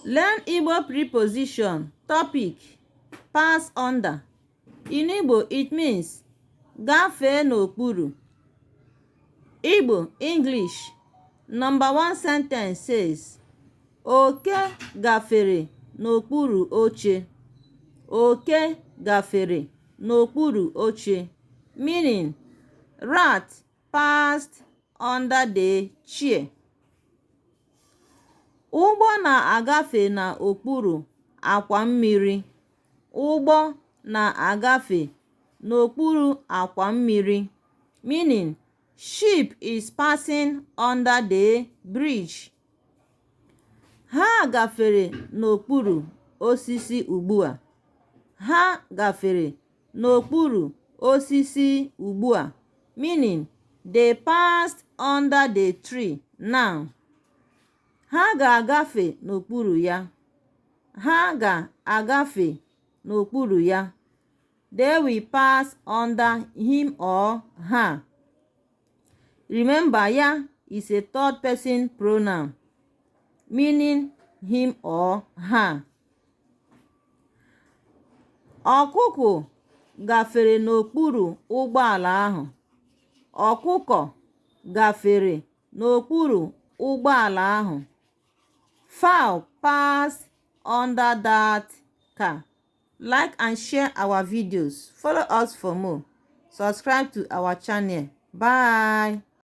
Learn Igbo preposition, topic, pass under. In Igbo, it means gafee n'okpuru. Igbo, English, number one sentence says, Oke gafere n'okpuru oche. Oke gafere n'okpuru oche. Meaning, rat passed under the chair. Ụgbọ na-agafe n'okpuru akwa mmiri. Ụgbọ na-agafe n'okpuru akwa mmiri meaning ship is passing under the bridge. Ha gafere n'okpuru osisi ugbu a. Ha gafere n'okpuru osisi ugbu a, meaning they passed under the tree now. Ha ga-agafe n'okpuru ya. Ha ga-agafe n'okpuru ya. They will pass under him or her. Remember, ya is a third person pronoun meaning him or her. Ọkụkụ gafere n'okpuru ụgbọala ahụ. Ọkụkọ gafere n'okpuru ụgbọala ahụ. Fowl passed under that car. Like and share our videos. Follow us for more. Subscribe to our channel. Bye.